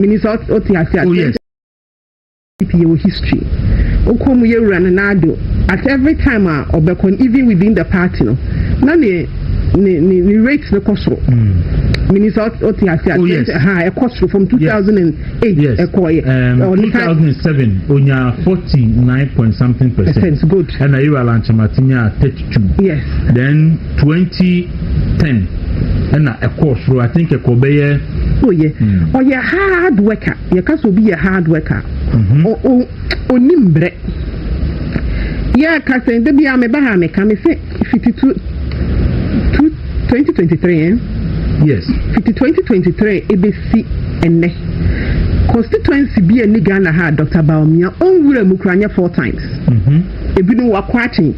Menim sɛ wote ase at same time DP yɛwɔ history wokɔ mu yɛ wura Nana Addo at every time a ɔbɛkɔ no even within the party no na ne ne ne ne rate no kɔ soro Menim sɛ wote ase at same time ha ɛkɔ soro from 2008 ɛkɔɔyɛ ɔne 2007 onya 49 point something percent good ɛna yɛwura Lankyamate nyaa 32 yes then 20 ten ɛna ɛkɔɔ soro i think ɛkɔ bɛyɛ. oyɛ oh, ɔyɛ hmm. hard worker yɛka sɛ obi yɛ hard worker mhm. ɔni mbrɛ yɛka sɛ da bia meba ha meka me sɛ fiti tu twenty twenty three eh? yes fiti twenty twenty three ebesi ɛnɛ constituency bi a ni ghana ha dr baomia ɔnwura mu kura nyɛ four times mhm. ebinom wakɔ akyen.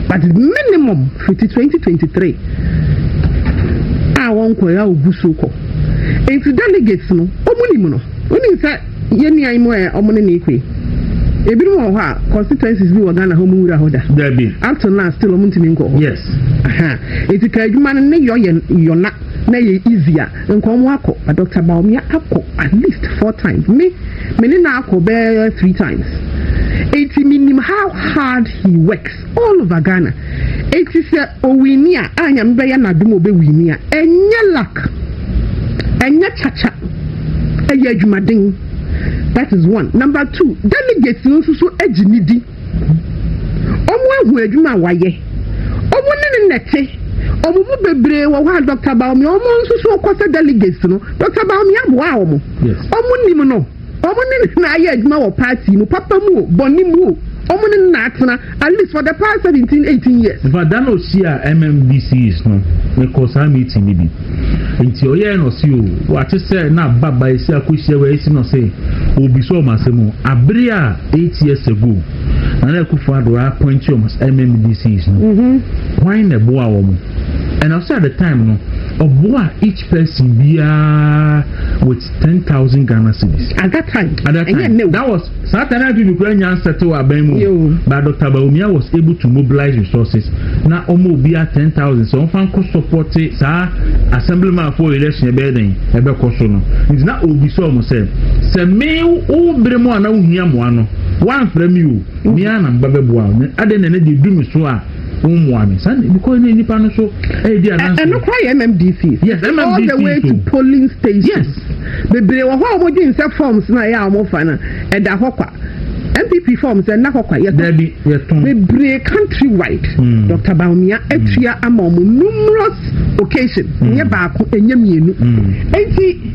But minimum fiti twenty twenty three a wɔn kɔ ya ogu so kɔ. Nti delegates no, wɔn nim no. Wɔn nim sɛ yɛn nua yi mu ɛ wɔn ne ne kɔ yi. Ebinom wɔ hɔ a constituencies bi wɔ Ghana hɔ wɔn wura hɔ da. Dabi. Up to now still wɔn ntumi nkɔ hɔ. Yes. Aha. Nti ka adwuma no ne yɔ yɛ yɔna na yɛ easy a. Nkɔ ɔmo akɔ but Doctor Bawumia akɔ at least four times me me ne no akɔ bɛɛ three times eti me nim how hard he works all over Ghana eti sɛ owini a a nyame bɛyɛ n'adom obewini a ɛnyɛ luck ɛnyɛ kyakya ɛyɛ adwumaden that is one number two delegates no nso so egye ne di. Ɔmo ahu adwuma a wayɛ. Ɔmo ne no na ɛte. Ɔmo mu bebree wɔ hɔ a Dɔkta Bawumia, ɔmo nso so kɔ sɛ delegates no, Dɔkta Bawumia boaa ɔmo. Ɔmo nim no. Ɔmo ne no na ayɛ adwuma wɔ party mu, papa mu o, bɔne mu o, ɔmo ne no na atena at least for the past seventeen, eighteen years. Infact, da na ɔhyiaa MMDCs no, mekɔɔ saa meeting no bi. Nti ɔyɛɛ no ɔse o wate sɛ na aba ba esi akɔhyia wei esi no ɔse obisa ɔmo asɛm o abere a eight years ago na na akufo ado appointi ɔmo as MMDCs no mm-hmm. hwan na ɛboa ɔmo and ɔse at the time no ɔboa each person biara with ten thousand Ghana cedis at that time at that time that was Satan amfi me kura nya settle aban mu but Dr. Bawumia was able to mobilize resources na ɔma obi a ten thousand sɛ ɔmfa nkɔ support saa assemblyman fo election ɛbɛyɛ dɛn ɛbɛkɔ so no nti na obi sɛ ɔmo sɛ sɛ me wo bere mu a na wohia mmoa no woamfrɛ me o mea na mba bɛboa wo adɛn na ɛnɛ deɛ du me so a wommoa me saa because ne nipa no so ɛyɛ eh, di adansi. ɛno kora yɛ mmdc. yes mmdc so all the way to polling station. yes. bebree wɔ hɔ a wɔn dwen sɛ forms na ɛyɛ a wɔn fa no ɛda hɔ kwa npp forms ɛna hɔ kwa yɛtɔn. dabi yɛtɔn. bebree country wide. Hmm. dr baumia hmm. atua ama wɔn numerous occasion. Hmm. nyɛ baako nyɛ mmienu. eti.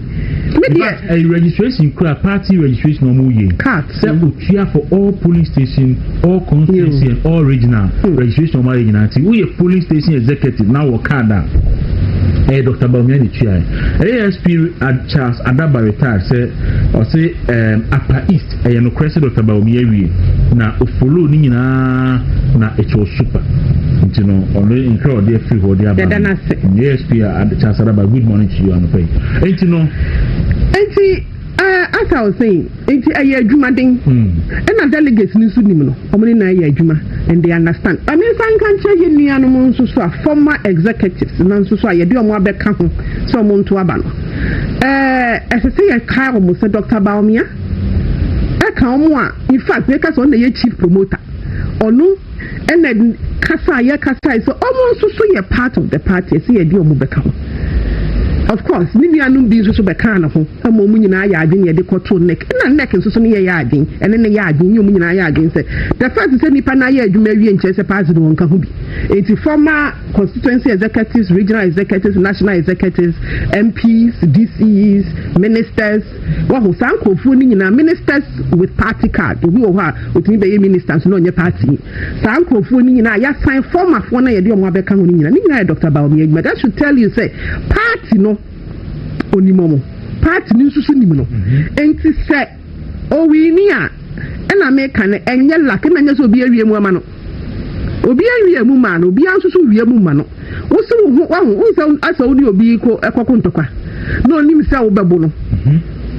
Me deɛ. But ɛyɛ registration kura party registration ɔmo yɛ. Card. Sɛ otua for all polling station, all constituency and all regional hmm. registration ɔmo ayɛ nyinaa ti. Woyɛ polling station executive na wɔ card a. Ɛyɛ Dr. Bawumia ne tua yɛ. ASP Charles Adaba retired sɛ ɔse um, Apa East. Ɛyɛ nokorɛ sɛ Dɔkta Bawumia awie na ɔfollow ne nyinaa na it was super nti no ɔno nkra ɔde afiri hɔ de aba Yɛda no ase. no asp a Charles Adaba good morning to you anɔpa yi nti no nti eh, as I was saying nti ɛyɛ adwumaden ɛna hmm. delegates no nso nim no wɔn ne nan yɛ adwuma and they understand ɛne nsa nka nkyɛn yɛ nuanom nso so a former executives na nso so a yɛde wɔn abɛka ho sɛ wɔn nto aba no ɛɛ eh, ɛsɛ sɛ yɛka wɔn sɛ Dr. Baomia ɛka ɔmo a in fact yɛka sɛ ɔno na ɛyɛ chief promoter ɔno ɛna kasa a yɛkasae sɛ ɔmo nso so yɛ part of the party ɛsɛ yɛde ɔmo bɛka ho of course ne nuanom bi nso so bɛkaa ne ho ɛma ɔmo nyinaa yɛ adwene yɛde kɔtoo nek na nek nso so ne yɛyɛ adwene ɛne ne yɛ adwene ne ɔmo nyinaa yɛ adwene sɛ the fact sɛ nipa no ayɛ adwuma awie nkyerɛ sɛ party no wɔnka ho bi eti former constituency executives regional executives national executives mps dcs ministers Wahu, saa nkurɔfoɔ no nyinaa, ministers with party card, obi wɔ hɔ a, ɔtumi bɛyɛ minister nso na ɔnyɛ party ni. Saa nkurɔfoɔ no nyinaa a yɛasan formerfoɔ no a yɛde wɔn abɛka ho no nyinaa, ne nyinaa yɛ Doctor Bawumia adwuma. That should tell you sɛ party no ɔnim wɔn, party no nso so nim no. Enti sɛ ɔwini a, ɛna meka no, ɛnyɛ luck, ɛna nyɛ sɛ obi awie mu ama no. Obiara wiee mu maa no, obiara nso so wie mu ma no. Wose wo ho, wahu, wohu sɛ asɛ wo ne obi ko ɛkɔko ntɔkwa, na onim sɛ wobɛbo no.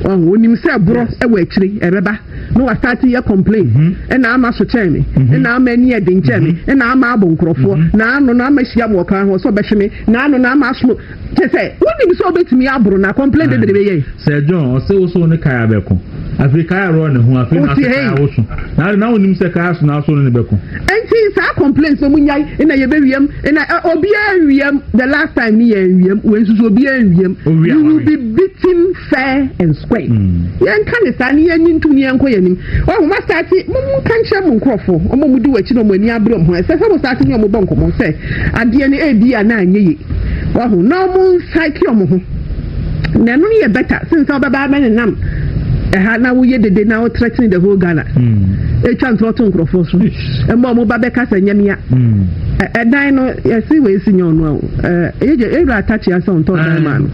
Wahu, onim sɛ borɔ ɛwɔ akyire, ɛbɛba, na wa start yɛ complain, ɛna ama so kyɛn me, ɛna ama ani ɛden kyɛn me, ɛna ama abo nkorɔfoɔ, na ano na ama hyia mo ɔkwan ho, sɛ ɔbɛhwe me, na ano na ama asono. Kyɛ sɛ wonim sɛ obetumi aboro na complain de bere bɛyɛ yi. Sɛ John ɔse wo so ne kaya abɛko. Afei kaya rɔ ne ho afei na ɔse kaya wo so. Na ade na wonim sɛ kaya so na aso ne ne bɛko. Enti saa complaints no mu nyai na yɛbɛwiam na obiara nwiam the last time ne yɛn nwiam wei nso so obiara nwiam. You will be beaten fair and square. Yɛnka ne saa ne yɛnyi ntum ne yɛnkɔ yɛnim. Ɔho ma start mo nka nkyerɛ mo nkurɔfo ɔmo mu di w'akyi na ɔmo ani abere ɔmo ho ɛsɛ sɛ mo start ne ɔmo bɔ nkɔmɔ sɛ adeɛ no ebi a na anyɛ ye wahu na ɔmo nsaeke ɔmo ho na ɛno no yɛ bɛta sen sɛ ɔbɛba abɛ ne nam ɛha na woyɛ dede na wotrɛtene the whole ghana hmm. etwa ntorɔ to nkorɔfoɔ so ɛmɔ ɔmo ba bɛka sɛ nyɛmia hmm. ɛdan no yɛsi wɔ esi nyɛ ɔno awo ɛyɛ gyɛ ewura atakye asɛ ɔntɔ ɔdan maa no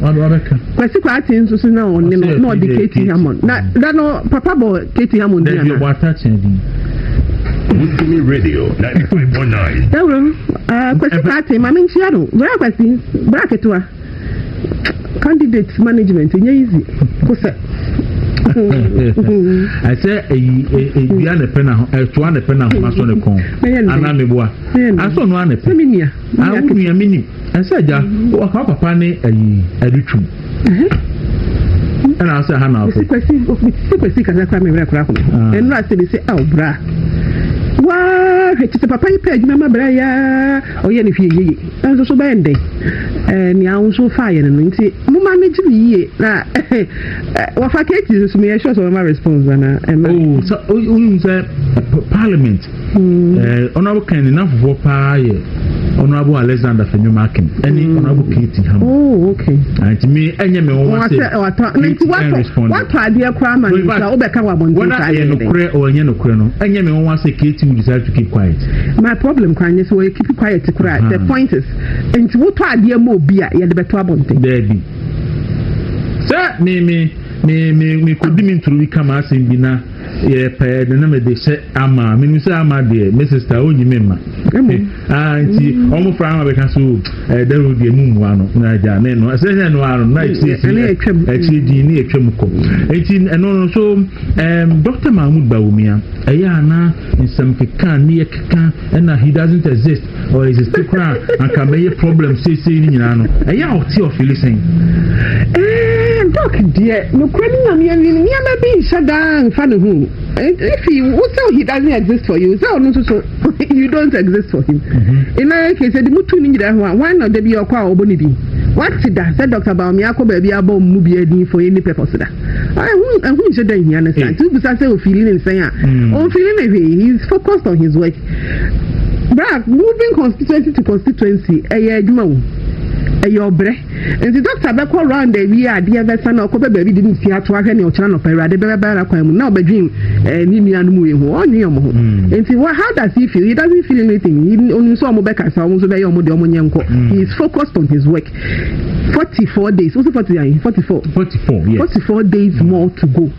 kwasi kɔ ate nso so na ɔne no na ɔde katie hamon na da no papa bɔ katie hamon di ana. Wusumi Radio 95.9. Dawurom, uh, Kwesi Kwate, Mami Nkyia no, Bra Kwesi, Bra Ketewa. Candidate management, nye easy, kosɛ. ɛsɛ eyi edua ne pɛ na ho ɛtoa ne pɛ na ho asɔ ne kɔn ana meboa asɔ no ana pɛ. Ah, wo nua mi nim. Ɛsɛ agya, ɔka wo papa ne ayi ɛde twum. Ɛna asɛ ha na afɔ. Kwasi sɛ kwasi kasa kora mewura kora kɔmɛ. Ah. Ɛnura sɛ bi sɛ aw ah, bra. Waa hwɛ kyesɛ papa yi pɛ adwuma ma bra ya ɔyɛ ne hwɛ yeye. Ɛnso so bɛyɛ ndɛn. Ɛɛ nea wo nso fa yɛ no no nti mo ma me gye ne yie na wɔfa kati nso meyɛ sure sɛ wɔma response anaa ɛma. O sɛ o nim sɛ parliament Eh, Honorable Ken ne nafofoɔ paa yɛ Honorable Alexander Fenyo Makin ɛne mm. Honorable Katie Ham. Oh, okay. Nti mi ɛnyɛ mi wɔn ase. Nti watɔ watɔ adeɛ koraa ma ne nsa wobɛka wɔ abɔnten saa yɛ. Whether ɛyɛ nukurɛ or ɛnyɛ nukurɛ no ɛnyɛ mi wɔn ase Katie will decide to keep quiet. My problem kwan nye sɛ wɔyɛ keep quiet koraa the uh-huh. point is nti wotɔ adeɛ ma obi a yɛde bɛtɔ abɔnten. Dɛbi sɛ mi mi mi mi mi kò di mi ntoro bi kama asɛm bi na. yɛ pɛɛ de na mede hyɛ ama menim sɛ ama deɛ me sista ɔnyi me mma ah, nti ɔmo fra ama bɛka so ɛdɛro deɛ mu mmoa no na agya ne no ɛsɛ sɛ ɛno ara no na akyiri di ne atwa mu kɔ nti ɛno no so dr mahmud bawumia ɛyɛ ana nsɛm keka ne yɛ keka ɛna he doesn't exist ɔyɛ sisi koraa anka bɛyɛ problem seesei no nyinaa no ɛyɛ a ɔte ɔfili sɛn dɔk deɛ nokora no nyame awi no nneɛma bi nhyɛ daa mfa ne ho if he wo sɛ he doesn't exist for you sɛ ɔno nso so you don't exist for him ɛna ɛkɛ sɛ de motu no nyina ho a wan na da bi ɔkɔ a ɔbɔ ne din wate da sɛ dɔkta baome akɔ baabi abɔ mu bi adin for any purpose da ɛho nhyɛ da nhia no saa nti wobisa sɛ ɔfili ne nsɛn a ɔmfili ne hwee he is focused on his work Bra moving constituency to constituency ɛyɛ adwuma o ɛyɛ ɔbrɛ nti dɔkta bɛkɔ round awie adeɛ bɛsa na ɔkɔpɛ baabi de ne ti ato ahwɛ ne ɔkyerɛ nɔpɛ awurade bɛbɛbɛra kwan mu na ɔbɛdwen ɛɛ ne nua no mu yi ho ɔnwe ɔmo ho hmm. nti wɔ how does he feel he doesn't feel anything he onim sɛ ɔmo bɛka sa ɔmo nso bɛyɛ ɔmo deɛ ɔmo nyɛ nkɔ hmm. he is focused on his work forty four days wosi forty ayi forty four forty four yes forty four days hmm. more to go.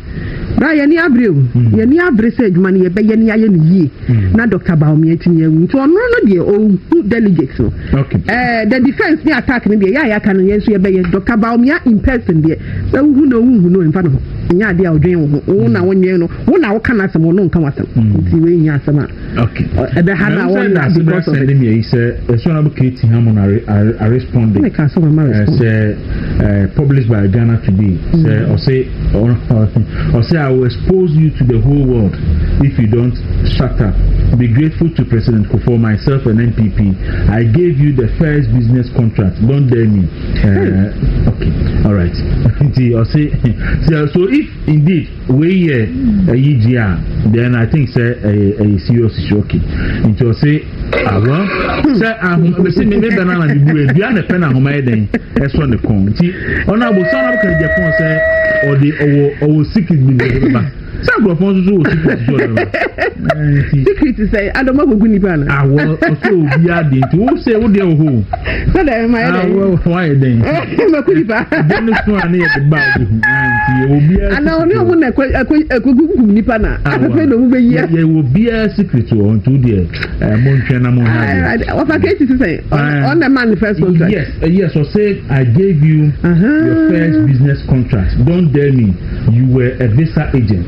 Bra yɛn ani abere o. Yɛn ani abere sɛ adwuma no yɛbɛyɛ na yɛayɛ no yie na Doctor Bawumia atumi awu. Nti ɔno no deɛ ɔhu delegates no. Ɛɛ the defence ne attack no deɛ yɛ a yɛaka no yɛn nso yɛbɛyɛ. Doctor Bawumia in person deɛ sɛ wohu no wohu no ɛmfa no ho. Ɛnyɛ adeɛ a ɔdwen wo ho. Wo na wonwen no. Wo na woka n'asɛm ɔno nka w'asɛm. Nti wei nyɛ asɛm a. Okay. Ɛbɛ ha na wɔn na because of it. Ɛbɛ ha sɛ ɛsɛ ɔnabɔ kate ha mo na a responding. Ɛbɛ ka so mama respond. Ɛsɛ ɛɛ published by Ghana Today. Sɛ ɔsɛ ɔsɛ I will expose you to the whole world if you don't shut up. Be grateful to President Kufuor, myself and NPP. I gave you the first business contract. Don't dare me. Uh, okay. All right. so if indeed Wei yɛ ɛyi deɛ a then I think sɛ ɛyɛ ɛyɛ serious issue okay nti ɔse ah well sɛ ahoma mesi me me bɛ na na me bu edua na pɛ na ahoma yɛ dɛn ɛsɔ ne kɔn nti ɔna abo sɛ ɔna abo kan gya fɔn sɛ ɔde ɔwɔ ɔwɔ secret bi bi bi ba sɛ agorɔfɔn nso so wɔ secret bi ɔde ba nti secret sɛ adɔm agogo nipa no awɔ ɔsɛ obi adi nti wo sɛ wo deɛ wɔ hɔ sɛ dɛ ɛma yɛ dɛn awɔ wɔn ayɛ dɛn. makoyi pa. ɛdɛm ne so a ne yɛde ba bi ho nti yɛwɔ biara. ana ɔne ɔmo na ɛkɔ ɛkɔ ɛkɔ kunkum nipa na afɛfɛ na ɔmo bɛ yia. yɛwɔ biara secret wɔ ɔntu deɛ ɛɛ mo ntwɛn na mo ha deɛ. ɔfa keeti sisan ɔna ɛma ne first contract. yes eh, yes ɔsɛ i gave you uh -huh. your first business contract don dare me you were a visa agent.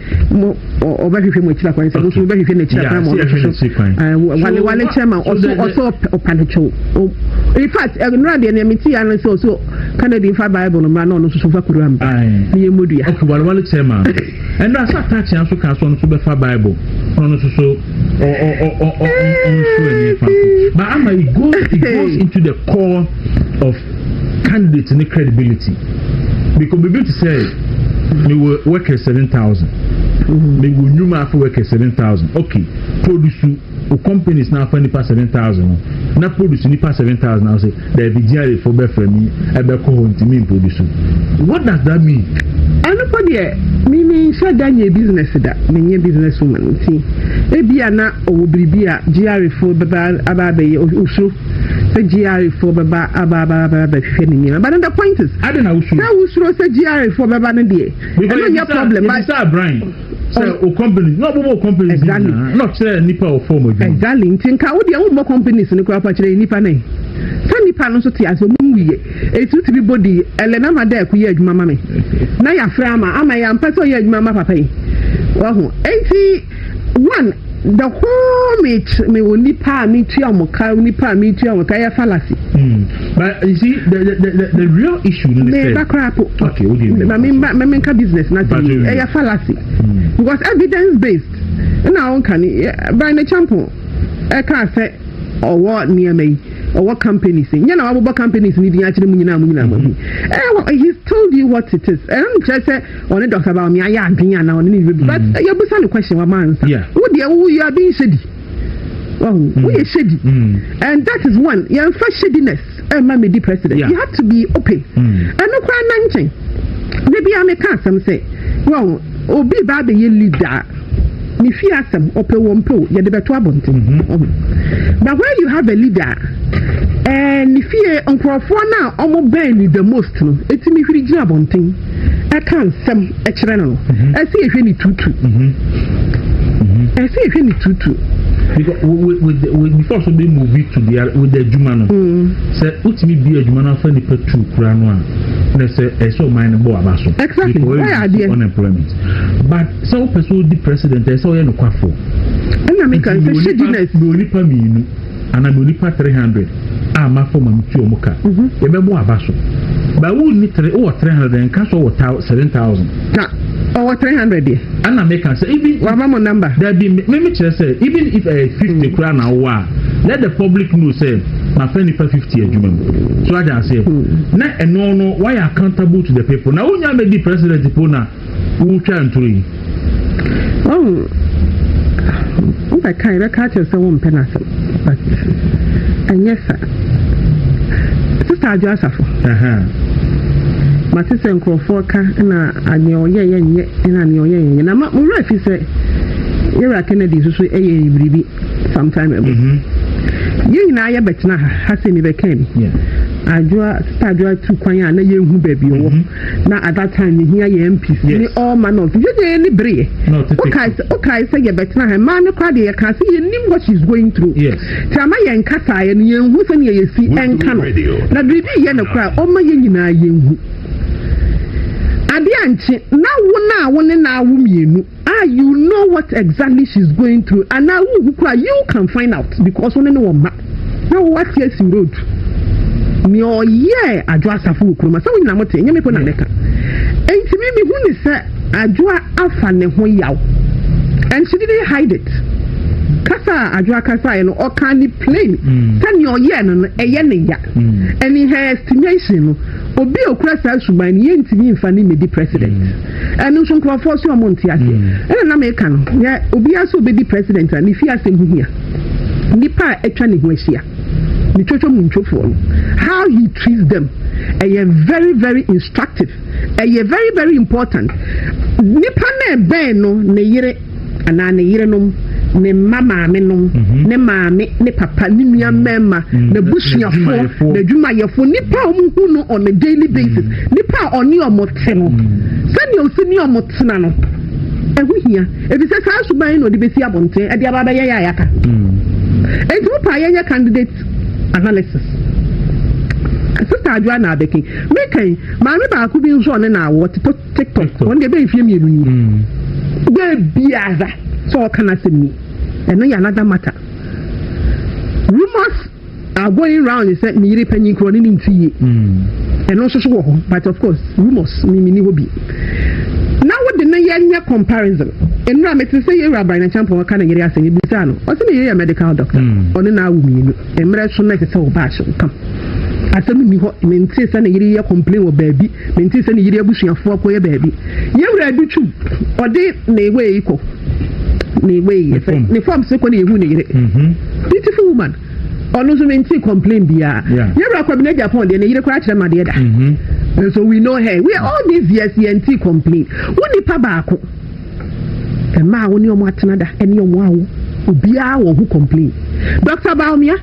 mo ɔbɛhwehwɛ mo akyiri akwan sɛ mo nso mobɛhwehwɛ no akyiri akwan ma ɔno nso wale wale kyɛ ma ɔso ɔso ɔpa no kyɛw in fact nnora deɛ nea mete ya no sɛ ɔso canada fa bible no mmra na ɔno nso so fa kuru amba ne yɛ mu dua okay wale wale kyɛ ma ɛnora sɛ ataakye nso ka so ɔno nso bɛfa bible na ɔno nso so ɔnso ɛnyɛ fa ba ama it goes it goes into the core of candidate ne credibility because biribi te sɛ mewɔ workers seven thousand mm-hmm. mewɔ nnwuma afɔ workers seven thousand okay produce o companies na afa nipa seven thousand no na produce nipa seven thousand na ɔsɛ dɛbi gr fo bɛfra mi ɛbɛkɔ hɔ ntumi produce what does that mean. ɛnokɔ deɛ mimi nhyɛ da nyɛ business da menyɛ business woman nti ebia na ɔwɔ biribi a gr fo bɛba aba abɛyɛ osuro sɛ GRA foɔ bɛba aba aba aba bɛhwɛ ne nneɛma but the point is adɛn na wosuro sɛ wosuro sɛ GRA foɔ bɛba no deɛ ɛno nyɛ problem but sɛ abran sɛ o oh. companies na ɔbɛbɔ o companies exactly na ɔkyerɛ nipa wɔ fɔm adwuma exactly nti nka wo deɛ wommɔ companies no koraa pa kyerɛ nipa ne sɛ nipa no nso te ase ɔmo nwuyɛ etu ti bi bɔ di ɛlɛ na ma dɛ ɛko yɛ adwuma ma mi na yɛafrɛ ama ama yɛ ampɛ sɛ ɔyɛ adwuma ma papa yi wahu eti. One, the whole me me onipa a me tua wɔn ka onipa a me tua wɔn ka yɛ fallacy. Mm. But you see the the the, the real issue no ne sɛ. Me ba koraa po. Okay, o de mi. Na me mba me nka business na ti mi ɛyɛ fallacy. Mm. Because evidence based ɛna wɔn ka ni Brian Echampo ɛka sɛ ɔwɔ nneɛma yi ɔwɔ companies nyɛ na wabobɔ companies ni din akyerɛ mu nyinaa mu nyinaa mu ɛɛ he told you what it is ɛna mu kyerɛ sɛ ɔne dɔkta baomi ayɛ adwene anaa ɔne ne bɛbu but mm. yɛbusa no question wama ansa wo deɛ wo you are being shady wahu mm. woyɛ shady mm. and that is one yɛmfa shadiness ɛma eh, me di president you have to be open ɛno koraa na nkyɛn da bia meka asɛm sɛ wahu obi ba abɛyɛ leader Ne fie asɛm ɔpɛo ɔmpɛo yɛde bɛto abɔnten ɔho but when you have a leader a ɛɛ eh, ne fie nkurɔfoɔ no a ɔmo bɛn ne the most no ɛtumi hwiri gyina abɔnten ɛka nsɛm ɛkyerɛ no no mhm. ɛsɛ yɛhwɛ ne tutu mhm. Mhm. ɛsɛ yɛhwɛ ne tutu because with, with, the, with before so be move it to the other with the adwuma no sɛ wotumi bi adwuma no afa nipa tu kura no a na sɛ ɛsɛ ɔman no bɔ aba so exactly why are there unemployment but Sɛ wopɛ sɛ wodi president a, ɛsɛ sɛ woyɛ nokwafo. Ɛna me kae sɛ, Hyɛ Guinness. Mewɔ nnipa mmienu anaa mewɔ nnipa three hundred a mafa ma metua wɔn ka. Mhm. Yɛbɛbɔ aba so. Ba wo nni three, wowɔ three hundred, nka sɛ wowɔ thou, seven thousand. Na ɔwɔ three hundred deɛ. Ɛna me ka sɛ, even. Wama mo number. Dabi, me, me mekyerɛ sɛ, even if ɛyɛ eh, fifty mm. koraa na wowɔ a, let the public know sɛ, mafa nipa fifty adwuma mu. So agya aseɛ. Mm. Na ɛno no, wayɛ accountable to the people. Na wonya mɛdi president po na. Woretwa ntoro yi. Wahu, wobɛka yɛbɛka akyerɛ sɛ wompɛ no asɛm but ɛnyɛ sa. Sista Adwo Asafo. Mate sɛ nkurɔfoɔ ka na nea ɔyɛ yɛ nyɛ na nea ɔyɛ yɛ nyɛ na ma mowura fi sɛ yɛwura Kennedy nso so ɛyɛ eh, biribi sometime ago. Mm-hmm. Yɛn nyinaa yɛbɛtena ha ha sɛ mebɛka bi. Adwoa sista Adwoa tu kwan a na yɛnhu baabi ɔwɔ. Mm-hmm. na at that time yɛhia yɛ mps ne all manner of things yɛnyɛ yɛni bereɛ wokae sɛ yɛbɛtena ha mmaa no kora deɛ yɛka sɛ yɛnim what she is going through nti ama yɛnkasaeɛ no yɛnhu sɛneɛ yɛsi ɛnka no na biribi yɛ no koraa ɔma yɛ nyinaa yɛnhu adeɛ ankye na wo no a wo ne no awo mmienu Ah you know what exactly she's going through anaa wonhu koraa you can find out because wo ne ne wɔ mma na wo wate asi road nea ɔyɛɛ adwo asafo wɔ kuroma sɛ wo nyina mote ɛnyɛ me po na meka enti me mehu ne sɛ adwoa afa ne ho yaw and she didn't hide it kasa a adwoa kasaeɛ no ɔka ne plain mm. sɛ nea ɔyɛɛ no no ɛyɛ ne ya mm. and in her estimation no obi a okura saa suban no yɛntumi mfa ne mmedi president mm. ɛno nso nkurɔfoɔ so ɔmo nte aseɛ hmm. ɛna na meka no yɛ obiara sɛ obɛdi president a ne fie asɛm ho hia nnipa a atwa ne ho ahyia ne twotwo mu ntwofoɔ no how he treats them ɛyɛ very very instructive ɛyɛ very very important nipa na ɛbɛn no ne yere anaa ne yerenom, ne mma maamenom, mhm. ne maame, ne papa, ne nua mhm. mmarima, mhm. n'abusuafoɔ, n'adwumayɛfoɔ, nnipa a wɔhu no on a daily basis, nnipa a ɔne wɔn te no, sɛdeɛ ɔsi ne wɔn tena no, ɛho hia. Efisɛ saa suban yi na ɔde besi abɔnten, ɛde aba abɛyɛ yɛ ayaka. Eti mo pa yɛnyɛ candidate analysis. Sista Adwoa na abɛkin. Mekan, maame baako bi nso ɔne na awɔ tiktok wɔn deɛ bɛyɛ mfie mmienu ni bɛɛ biara sɛ ɔka n'asɛm ni ɛno yɛ another matter rumors are going round sɛ ne yere panyin korɔ ne ne nti yie ɛno nso so wɔ hɔ but of course rumors mimi ni hɔ bi na wode ne yɛ nyɛ comparison nnura mete sɛ yɛ wura aban na kyampɔn ɔka ne yere asɛm ebi saa no ɔsɛ ne yere yɛ medical doctor ɔne na awo mmienu. Mmerɛ so na ɛsɛ sɛ ɔbaa hyɛ wo kam. Asɛm nni hɔ mentee sɛ ne yere yɛ complain wɔ baabi, mentee sɛ ne yere abusuafoɔ kɔyɛ baabi. Yɛn wura adu twu, ɔde ne wei kɔ, ne wei yɛ fɛ, ne forms kɔ na yɛhu ne yere. Beautiful woman. Ɔno nso mentee complain biara. Yɛn wura Kwabena Agyapong deɛ ne yere koraa kyerɛ ma adeɛ da. And so we know her. We all these years yɛntee complain. Wo nipa baako. Mmaa a wo ne wɔn atena da ne wɔn awo, obiara wɔ ho complain. Doctor Bawumia,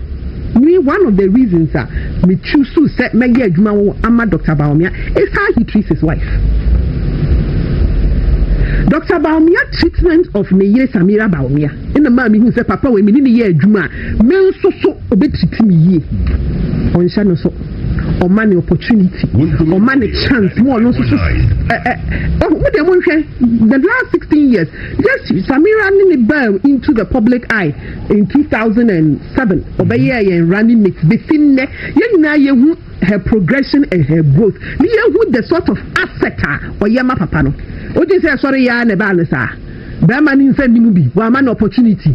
me one of the reasons a me choose sɛ mɛyɛ adwuma wɔ ama Doctor Bawumia is how he treats his wife. Doctor Bawumia treatment of ne yere Samira Bawumia ɛna maa mi hu sɛ papa wɔ mi ne ne yɛ adwuma a me nso so obetiti mi yie. Ɔnhyɛ no so. ɔma ne opportunity ɔma ne chance mu ɔno nso so ɛɛ ɔmo mo deɛ mo nhwɛ the last sixteen years just samira ne ne baa into the public eye in two thousand and seven ɔbɛyɛ yɛn running mate besi nnɛ yɛn nyinaa yɛ hu her progression and her growth ne yɛ hu the sort of asset a ɔyɛ ma papa no o ti sɛ ɛsɔre yɛ a na ɛbaa ne saa bɛrima ne nsa nnimu bi wɔama no opportunity.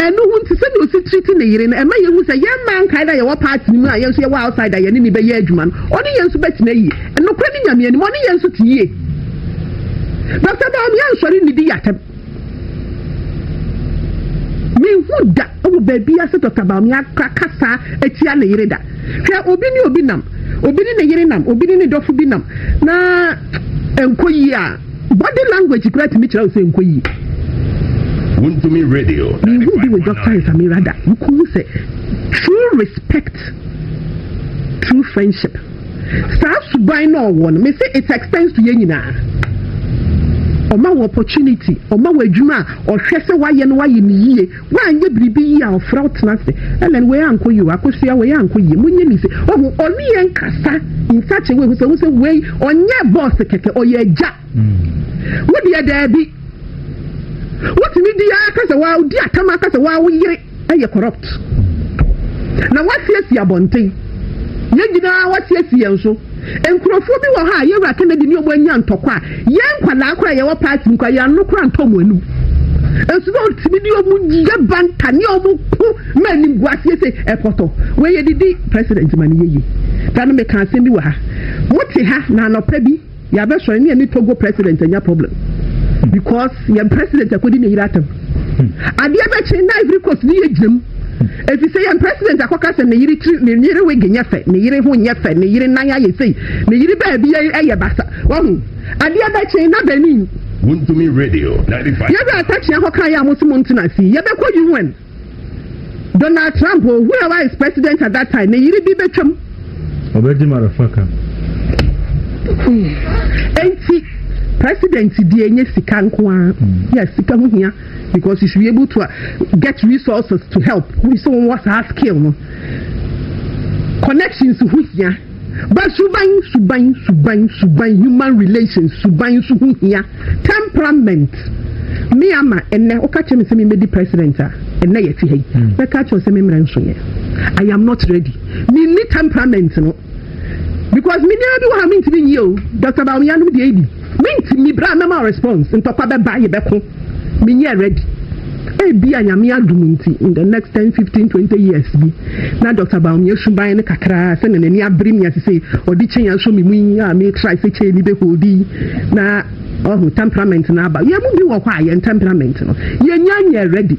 Ɛno ho nti, sɛnea osi treat ne yere no, ɛma yehu sɛ yɛn mmaa nkae dɛ yɛwɔ part no mu a yɛn nso yɛwɔ outside a yɛne no bɛyɛ adwuma no. Ɔne yɛn nso bɛtena yie. Nokorɛ ne Nyame anim, ɔne yɛn nso te yie. Na sɛ maame ansɔre nnidi yɛatɛm. Menhu da wɔ baabiara sɛ Dɔkta Bawumia akora kasa atia ne yere da. Hwɛ, obi ne obi nam, obi ne ne yere nam, obi ne ne dɔfo bi nam, na ɛnkɔ yie a, Body language kura tumi kyerɛ wo sɛ nkɔ yie. Wuntumi radio. Mehu bi wɔ Dr. Nsamira da. Wukuhu sɛ true respect, true friendship. Saa suban na ɔwɔ no. Me se it extends to yɛn nyinaa. Ɔma wɔ opportunity, ɔma wɔ adwuma a ɔhwɛ sɛ wayɛ no wayɛ ne yie. Wei anyɛ biribi yie a ɔfrɛ wo tena ase Ellen wei ankɔ yie o Akosua wei ankɔ yie monyɛ me se Wahu ɔne yɛn nkasa in such a way hu sɛ hu sɛ wei ɔnyɛ boss kɛkɛ ɔyɛ agya Wo deɛ daabi wotumi di ara ka sɛ waa wodi atam aka sɛ waa wo yere yɛ corrupt na woasiesie abɔnten yɛn nyinaa woasiesie yɛn so Nkurɔfoɔ bi wɔ hɔ a Yawura Kennedy ne wɔn anya ntɔkwa a yɛn nkwadaa koraa a yɛwɔ party mu koraa yɛn ano koraa ntɔ wɔn anum. Nso na ɔtumi de wɔn yɛ banta ne wɔn ko ma animguaseɛ sɛ ɛpɔtɔ. Wei yɛ didi president ma ne yɛyie. Da no meka asɛm bi wɔ ha. Mote ha na anɔpa bi yɛabɛsɔre ne yɛne Togo president anya problem because yɛn president akɔdi ne yere atɛm. Adeɛ bɛkye na Ivory Coast ne yɛgyina mu. Efisɛ yɛn president akɔka sɛ ne yere tiri, ne yere wig nyɛ fɛ, ne yere ho nyɛ fɛ, ne yere nan ayɛ sei, ne yere baabi yɛ basa. Wahu? Adeɛ bɛkye na benin. Wontumi radio ninety five. Yɛ wura takyea hɔ kaeɛ a mo se mo ntena ase yi, yɛbɛkɔ UN. Donald Trump o, whoever is president at that time, ne yere bi bɛtwam. Ɔbɛgye motherfucker. Enti president deɛ nyɛ sika nko ara, yɛ sika ho hia. because you should be able to uh, get resources to help wọ́n sọ wọn wá saa skill no connections ho hia ba suban suban suban suban human relations suban so ho hia temperament me ama ɛnɛ woka kyerɛ me sɛ memɛdi president a ɛnɛ yɛte ha yi hmm. bɛka kyerɛ sɛ memmerɛ nso yɛ i am not ready menni temperament no because menyɛ bi wɔ ha mentumi nyie o dr baomeyanom deɛ ɛdi Mentimi bra na ma response ntɔkwa bɛba yɛbɛko menyɛ ready ebia nyame adom nti in the next ten fifteen twenty years bi na Doctor Bawumia suban no kakraa sɛnea n'ani abere me ase sei ɔde chain asɔ me mu yi a me try sɛ chain no bɛ hold yi na ɔho temperament no aba yɛn mu bi wɔ hɔ a yɛn temperament no yɛnya nyɛ ready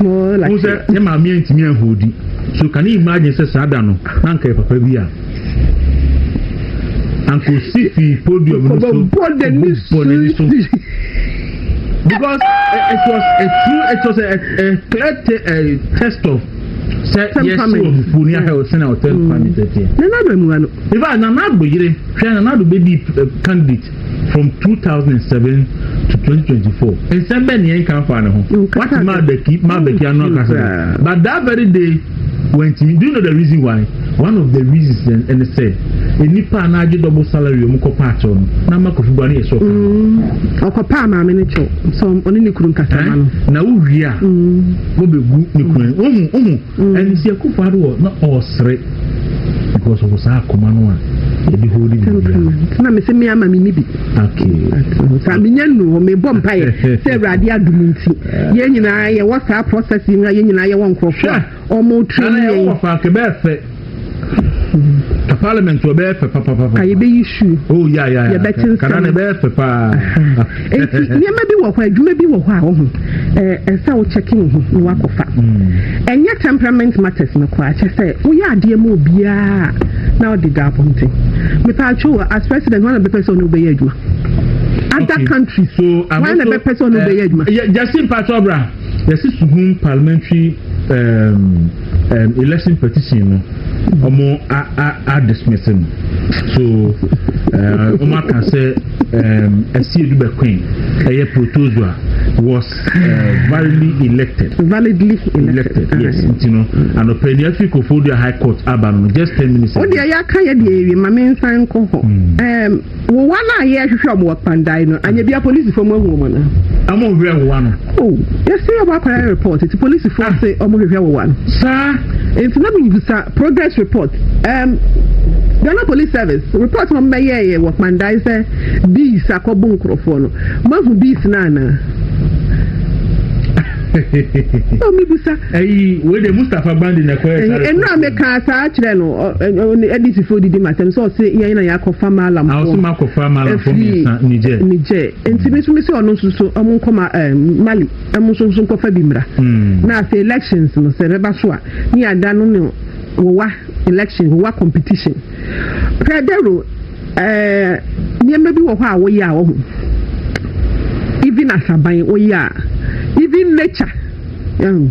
Wohu sɛ ne maame antumi anhoodi. So can you imagine sɛ saa da no na anka yɛ papa bi a anka osi fi podium no so bɔ n'ani so because eh, it was a true it was a, a clear te, a test of sɛ yɛsi wɔ fufuo ni ahɛ ɔsɛn a ɔtɛn pamɛtɛ tiɛ. nana do emu ano. ifa nana do yere hwɛ nana do bɛ di eh, candidate. From two thousand and seven to twenty twenty four, nsɛm bɛn ni yɛn kan fa ne ho? Wati Mabeki Mabeki ano akasa dɛ, but that very day wɔntumi. Do you know the reason why? One of the reasons then ɛne sɛ nnipa a n'agye double salary wɔn kɔ paa kyɛw no n'ama kofi bu ano yɛ sɔɔ. Mm, ɔkɔ paa maame ne kyɛw sɛ ɔne ne kuru nkasa ma no. Eh? Na wowie a mm. wɔbɛgu ne kunu. Wɔn mu wɔn mu. ɛne sɛ akufo ado wɔ na ɔresere because ɔwɔ saa akoma no a yɛde hɔ de biribiara na mesɛ me ama me ni bi saa menya nu hɔ mebɔ mpaeɛ sɛ awurade adom nti yɛn nyinaa yɛwɔ saa process yi na yɛn nyinaa yɛwɔ nkurɔfoɔ a ɔmo tiri yɛn ka parliament wɔ bɛyɛ fɛ papapapa. a yɛbɛyi su. o oh, ya ya ya yɛbɛte nsɛm kana na ɛbɛyɛ fɛ paa. nti nneɛma bi wɔ hɔ adwuma bi wɔ hɔ a ɔho ɛɛ ɛsɛ a wokyɛke wo ho na wakɔfa. Hmm. ɛnyɛ temperament matters no koraa kyɛ sɛ woyɛ adeɛ mu obiara na ɔde da abɔnten mepɛ atwo as president wɔn na bɛpɛ sɛ ɔne wobɛyɛ adwuma. other okay. countries so, wɔn na bɛpɛ sɛ ɔne wobɛyɛ eh, adwuma. jasi mpatɔ bra. Yɛsi Suhum parliamentary um, um, election petition no ɔmo a a a dismiss no so uh, ɔmo aka sɛ um, ɛsi edu bɛkwen ɛyɛ protozoa was uh, validly elected. validly elected, elected yes nti no anɔpɛ ni afiri kofoɔ dua high court aba no just ten minutes. o deɛ yɛ aka yɛ deɛ ewie maame nsan kɔ hɔ. Wowa no a yɛ hwehwɛ ɔmo wɔ kpandae no anyɛ bia polisifo mo ahu ɔmo anaa. Ɔmo nhwɛ wowa no. Oh yɛse ɔmo akɔyɛ report nti polisifo ah. se ɔmo hwehwɛ wowa no. Saa. Nti na mebisa progress report um, Ghana police service report ɔmo bɛyɛɛyɛ wɔ kpandae sɛ bees akɔbo nkorɔfoɔ no mahu bees no anaa. mebisa ayi wei de mustapha bandi na ɛkɔyɛ sare ɛno a mekaa saa kyerɛ no adisifoɔ didi masɛm sɛ ɔse yɛn na yɛakɔfa malamfoɔfiri nigyɛ nti me so me sɛ ɔno nso so ɔmo nkɔma mali ɛmo nso nso nkɔfa bi mmra hmm. na afei elections no sɛ bɛba so a ne ada no ne wowa election wowa competition pradero Ɛɛ nneɛma bi wɔ hɔ a woyɛ a wohu even ahaban woyɛ a even nature ɛhu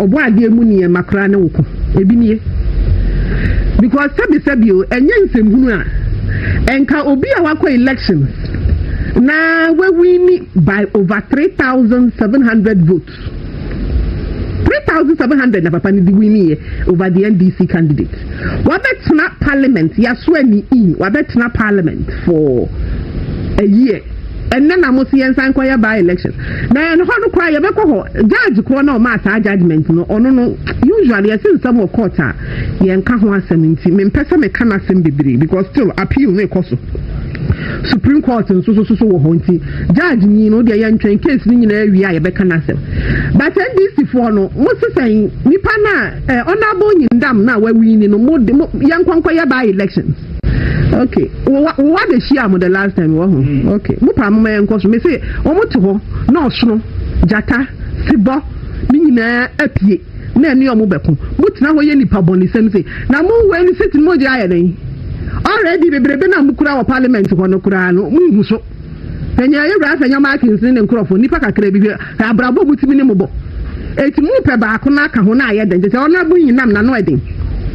ɔbɔ adeɛ mu nneɛma koraa ne wo ko ebi nie because sɛbisɛbi o ɛnyɛ nsɛmhunu a ɛnka obi a wakɔ elections na wawini by over three thousand seven hundred vote three thousand seven hundred na papa no de winiiɛ over the ndc candidate wabɛtena parliament yaso ani in wabɛtena parliament for a year ɛnna na mo si yɛn nsan kɔ yɛ by election na yɛn hɔ no koraa yɛbɛkɔ hɔ judge korɔ na ɔmaa saa judgement no ɔno no usually yɛsi nsɛm wɔ court a yɛn ka ho asɛm nti mempɛ sɛ meka n'asɛm bebree because still appeal no ekɔ so supreme court nso so so wɔ hɔ nti. Judge nyi no deɛ yɛntwɛn case no nyinaa wie a yɛbɛka n'asɛm but NDC foɔ no mo sesɛn nipa no a eh, honorable nyindam no a wawini no mo de mo yɛnkɔnkɔ yɛ by elections okay wowa wowa de hyia mo the last time wɔ ho hmm. okay mo paa mo ma yɛnkɔ so mese wɔn te hɔ na ɔsono gyata sebɔ ne nyinaa apue na ɛne wɔn bɛko mo tena hɔ yɛ nipa bɔ ne sɛm se na mo wɔ ɛni sɛ tini mo gye ayɛ dɛn already bebrebe na mo kura wɔ parliament hɔ no koraa no mo nhu so. Hwɛ nea yɛn Wura Sanya Markins ne ne nkurɔfo, nnipa kakraa bi, hwɛ abrabɔ mu tumi ne mmɔbɔ. Enti mopɛ baako na aka ho na ayɛ dɛn? Kyerɛ sɛ Ɔnrɛbo yi nam n'ano ɛden.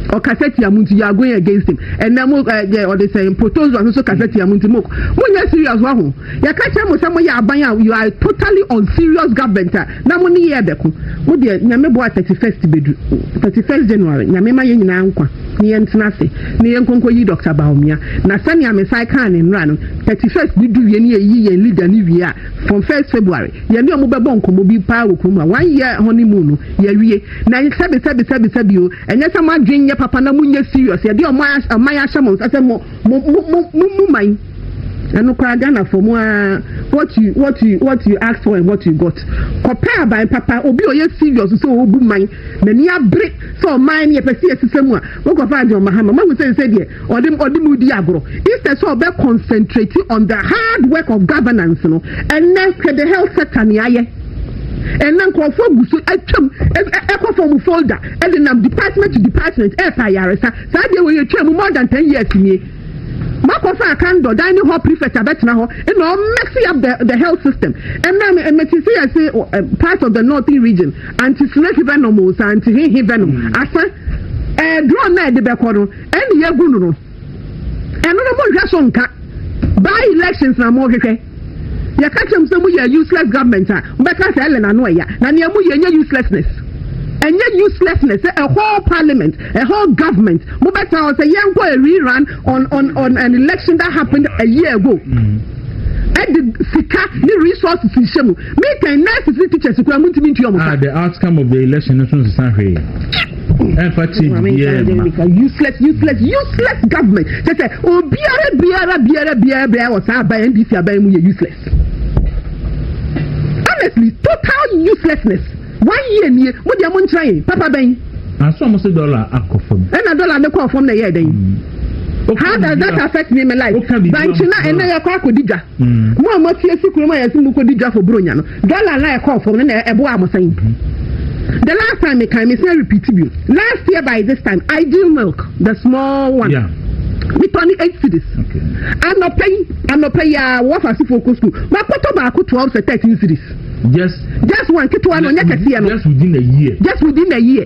Ɔkasa tia mo nti, you are going against him. Ɛnnɛ mo eh, deɛ ɔde sɛn protozoa nso kasa tia mo nti mo monyɛ serious waho. Yɛka kyerɛ mo sɛ moyɛ aban a you are totally unserious government a Na mo ne yɛ bɛko. Mo deɛ Nyame boa thirty first bɛdu, thirty first January, Nyame ma yɛn nyinaa nkwa na yɛn ntena ase na yɛn nkɔ nkɔ yi Doctor Bawumia. Na sɛnea me san kaa ne nnora no, thirty first no du wie na yɛyi yɛn leader no wie a, from first February, yɛne ɔmo bɛbɔ nkɔmmɔ bi paa wɔ kurom a one year honey moon no, yɛawie. Na sɛbi sɛbi sɛbi sɛbi o, ɛnyɛ sɛ mo adwene nyɛ papa na mo nyɛ serious, yɛde ɔman ahyɛ mo nsa sɛ mo mo mo mo mo man. Ɛno koraa Ghanafoɔ mo ara what you what you what you ask for and what you got. Kɔpɛ aban papa obi a ɔyɛ serious sɛ ɔrebu man n'ani abere sɛ ɔman no yɛpɛ sɛ yɛsesa mu a wokɔfa John Mahama mahu sɛ sɛ deɛ ɔde ɔde mu di agorɔ instead sɛ ɔbɛ concentrate on the hard work of governance no ɛnɛ hwɛ the health sector ne ayɛ ɛnna nkurɔfoɔ agu so atwam ɛkɔ fam folder ɛde nam department to department ɛɛpa ayaresa saa deɛ wɔyɛ twam more than ten years nie Makɔ faa kan dɔ dining hall prefect abɛtena hɔ ɛna ɔ messy up the the health system ɛna me ɛmɛti si yɛ se part of the northern region anti snake venom o sa anti hehe venom mm. asa ɛɛ eh, drone na ɛde bɛkɔ no ɛna yɛ gu no no ɛno no mo nhwɛ so nka by elections na mo hwehwɛ. Yɛka kyerɛ mo sɛ mo yɛ useless government a, mo bɛka sɛ Ellen ano ɛya. Na nea mo yɛ nyɛ uselessness. Ɛnyɛ uselessness sɛ a whole parliament, a whole government, mo bɛka hɔ sɛ yɛn kɔ a rerun on on on an election that happened a year ago. Mm. ɛde sika ne resources nhyɛ mu mekan nurses ne teachers kura mu ntumi ntua ɔmo ka. ah the outcome of the election nso nsesa hwee. ɛmfa change biara mma. useless useless useless government kyɛ sɛ obiara biara biara biara biara wɔ saa aban ndc aban mu yɛ useless honestly total uselessness one year nie mo deɛ mo nkyerɛ yɛn papa bɛn. aso ɔmo se dɔla akɔ fam. ɛna dɔla ne kɔ fam na ɛyɛ ɛdɛn. how does that affect me in my life bankye na ɛnna yɛ kɔ akɔdi dwa mo a mo afi esi kurom a yɛsi mo kɔdi dwa fo buronya no Dollar na ɛkɔɔ fam no na ɛboaa mo sɛn? The last time me kan me sɛ repeat bi. Last year by this time, ideal milk, the small one. Yeah. Me tɔ ne eight cities. Okay. Anɔpɛ yi, anɔpɛ yi a wɔfa asifo kɔ school. Makɔtɔ baako twelve sɛ thirteen cities. Just just one ketewa no nyɛ kɛseɛ no. Just within a year. Just within a year.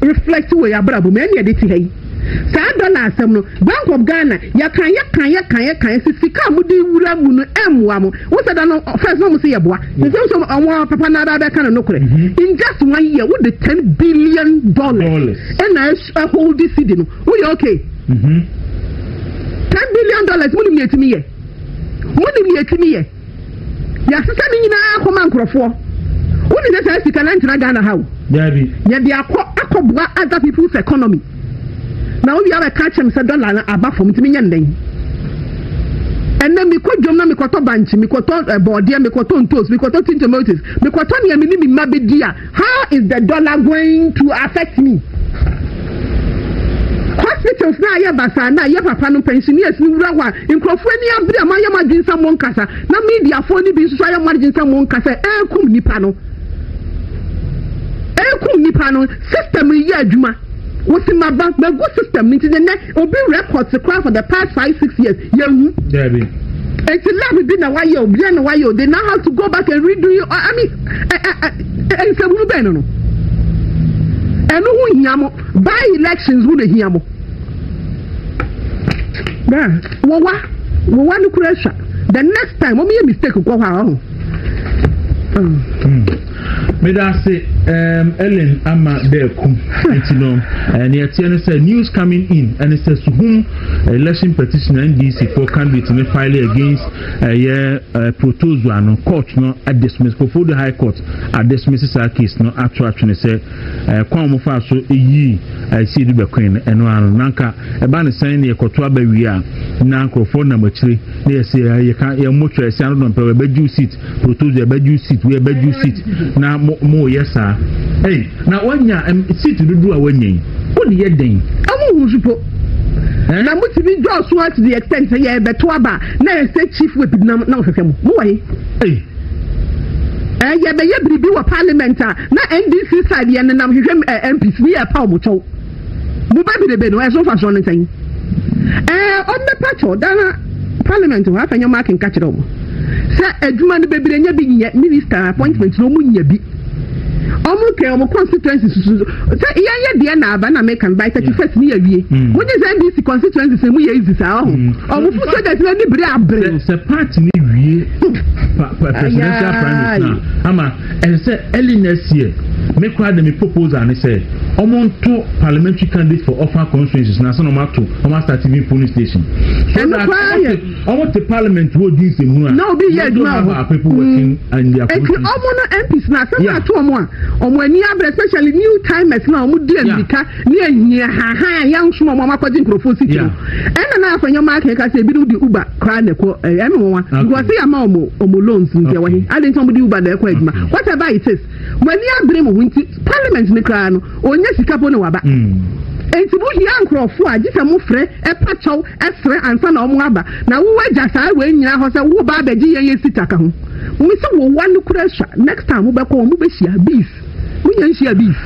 reflect wɔ yɛ abrabɔ mu ɛne ɛde te ha yi saa dollar asɛm no bank of ghana yɛkan yɛkan yɛkan yɛkan si sika a mo de wura mu no ɛmmoa mo wo sɛ da no first na mo se yɛboa te sɛ nso ɔmo papa na abɛɛ bɛka no nokorɛ mm-hmm. in just one year wo de ten billion dollars ɛna ɛhold cd no wo yɛ okay mm-hmm. ten billion dollars mo nim yɛ tumi yɛ mo nim yɛ tumi yɛ Yɛasesa ne nyinaa akɔ ma nkorɔfoɔ. Wo ne sɛ saa sika no antena Ghana ha o. Daabi. Yɛde akɔ akɔ boa other people's economy. Na wo wie a wobɛka akyerɛ me sɛ dollar no aba fam nti menyɛ no dɛn? Ɛnɛ mekɔ dwom na mekɔtɔ bankye, mekɔtɔ eh, bɔɔdeɛ, mekɔtɔ ntoos, mekɔtɔ tin tomatoes, mekɔtɔ nea me ne me mma bɛdi a How is the dollar going to affect me? Hospitals na ayɛ basaa na ayɛ papa no pensioners no wura hɔ a nkurɔfoɔ ani abere a moayɛ mo adwene sɛ mo nkasa na mediafoɔ no bi nso ayɛ mo adwene sɛ mo nkasa ɛrekum nipa no ɛrekum nipa no system yi yɛ adwuma wosi ma ba ma gu system ni ti ne nɛ obi records kora for the past five six years yɛ hu. eti lab bi na wayɛ o bi na wayɛ o they now have to go back and redo it i mean. Nsɛmhunu bɛn no no? Ɛno ho hia mo. By elections ho na hia mo. Wɔwa wɔwa no kura sua. The next time wɔn yɛ mistake kɔ hɔ a ɔho. meda ase ellen ama dɛɛko nti no nea ɛteɛ no sɛ news coming in ɛne sɛ suhum election petition ndc for candidate ne file against ɛyɛ ɛɛ protozoa no court no adismiss kofodu high court adismiss saa case no ato atwene sɛ ɛɛ kwan wɔn fa so eyi ɛsi edu bɛkɔn no ɛno ano nanka ɛba ne sɛn na yɛkɔto aba wie a na nkorɔfoɔ nam akyire na yɛsi ɛɛ yɛka yɛn mo kyerɛ ɛsi ano dɔn pɛ ɛbɛgye seat protozoa ɛbɛgye seat wei ɛbɛgye seat na mo mo yɛ saa ɛyi na wɔnya ɛm seat dodo a wɔnya yi wɔn yɛ den. ɛmu wusu po. Eh? na mutumi dɔɔso to the extent sɛ yɛbɛto aba Na ɛsɛ Chief Whip denam na ɔhwehwɛ mo. Mo wɔ he? Ei! Ɛɛ yɛ bɛyɛ biribi wɔ parliament a na NDC side yɛ nenam hwehwɛ ɛɛ MPs ne yɛ paw mo kyɛw. Mo ba birebe no ɛso mfasoɔ no sɛn? Ɛɛ ɔmbɛ pa kyɛw dana parliament hɔ afɛ nyɛ ɔmo akenka kyerɛ ɔmo sɛ adwuma no bebire nyɛ bi nyɛ minister appointment no ɔmo nya bi. ɔmo kɛn ɔmo constituency susu sɛ yɛn yɛ deɛ na aba na mɛka by thirty first ni yɛ wie mo nye sɛ ndc constituency sɛ mo yɛ easy saa ɔho ɔmo fo sɛ dɛsɛ ni bere abere. sɛ party ni wie presidential primaries na ama ɛsɛ sɛ early next year me kora de me proposal ne sɛ ɔmo nto parliamentary candidate for offer constituencies na sɛ na ɔmo ato ɔmo asate bi polling station. ɛnu kora yɛ. Ɔmo te parliament hɔ di nsɛm mu a. Na obi yɛ adwuma wɔ hɔ. People working and their constitution. Eti ɔmo no MPs na asɛm ato ɔmo a ɔmo ani abere especially new timers na ɔmo di amirika ne ahia hahan a yɛn ahosuo ɔmo amakɔgye nkurɔfoɔ si tiri. Ɛna na afɔ nyɛ ɔmo akɛkɛ ase ebinom di uber koraa na ɛkɔ ɛyɛ ɛmi wɔn wa. Because yɛ ama ɔmo ɔmo loans nti ɛwɔ he. Adi nti ɔmo di uber na ɛkɔ adwuma. Whatever it is. Mo ani abere mo ho nti parliament no koraa no ɔnya sika po na waba. Enti mo hia nkorɔfoɔ a gye sɛ mo frɛ, ɛpa kyɛw, ɛsrɛ ansa na ɔmo aba. Na wo agya saa wei nyinaa hɔ sɛ wo ba abɛgye yɛn yɛ sika ka ho. Mese wo wa no kura sua next time mo bɛkɔ ɔmo bɛhyia bees. Mo nya nhyia bees.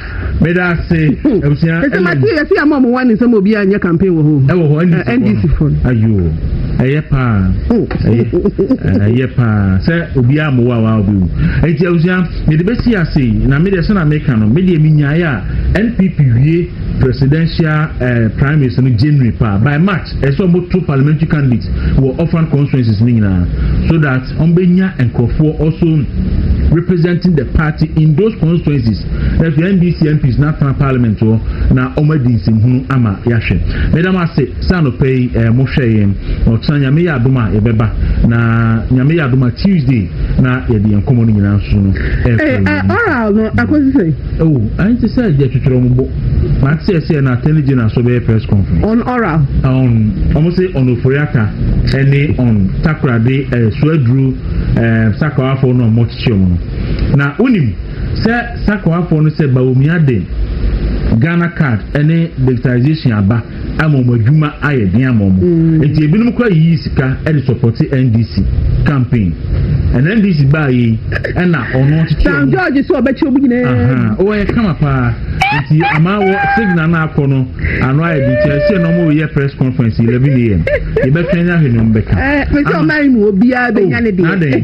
meda ase abusua ɛsɛ ma ti yɛsi ama ɔmo wani sɛ mo obi anyɛ campaign wɔ hɔ ɛwɔ hɔ ndc fo ayo ɛyɛ paa ɛyɛ paa sɛ obi a mo wa wa obi wu eti abusua mede besi ase na mede ɛsɛ na meka no mede emi nyaayɛ a npp wie presidential ɛɛ primaries no january paa by march ɛsɛ ɔmo to parliamentary candidates wɔ orphan constituencies ne nyinaa so that. wɔn bɛ nya nkorɔfoɔ also representing the party in those constituencies na so ndc mps na atena parliament hɔ na wɔn adi nsɛmhunu ama yɛahwɛ meda mo ase sɛ anɔpɛ yi ɛɛ eh, mo hwɛ yɛn na ɔkyena nyame yɛ adom a yɛbɛba na nyame yɛ adom a tuesday na yɛde yɛn nkɔmɔ no nyinaa nso no ɛɛ eh, eh, oral no akɔsi sɛ ɛwɔ oh, ayɛ te sɛ yɛtwetwerɛ mo bɔ But sɛ ɛsɛ na attorney general so bɛyɛ press conference. On oral. On wɔn se on oforiata ɛne on takorade ɛɛ eh, suaduro ɛɛ eh, sakawafo na wɔn kyekye wɔn no na wonim sɛ sakawafo no sɛ bawumia de ghana card ɛne digitalization aba ama wɔn adwuma ayɛ den ama wɔn mm. nti ebinom kora yiyi sika de sɔpɔte ndc campaign ɛna ndc baa yi ɛna ɔno tete ɔmo san george sɛ ɔbɛkyɛ ɔmo nyinaa ɔwɔ yɛ kama paa nti ama wɔ signal no akɔ no ano ayɛ de nti ɛsɛ na ɔmo yɛ press conference eleven am yɛbɛtwɛn ahwɛ na ɔmo bɛka. ɛɛ pɛsɛ ɔmo ayi mu obiara bɛ nya ne deɛ. nadɛn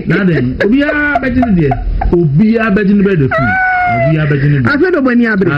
nadɛn obiara bɛ gye ne deɛ obiara bɛ gye ne bɛ de fun obiara bɛ gye ne deɛ. afei de ɔmo ani abiri.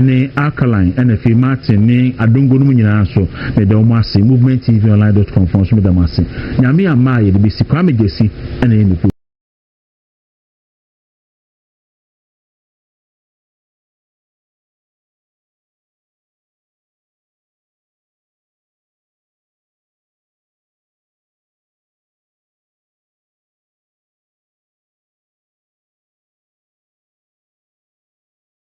ne Alkaline na afei Martin ne Adongo no mu nyinaa so meda wɔn ase Movement TV online dot com foɔ nso meda mo ase Nyame amma a yɛde bɛsi Kwame Gyasi na ɛyɛ ne kuo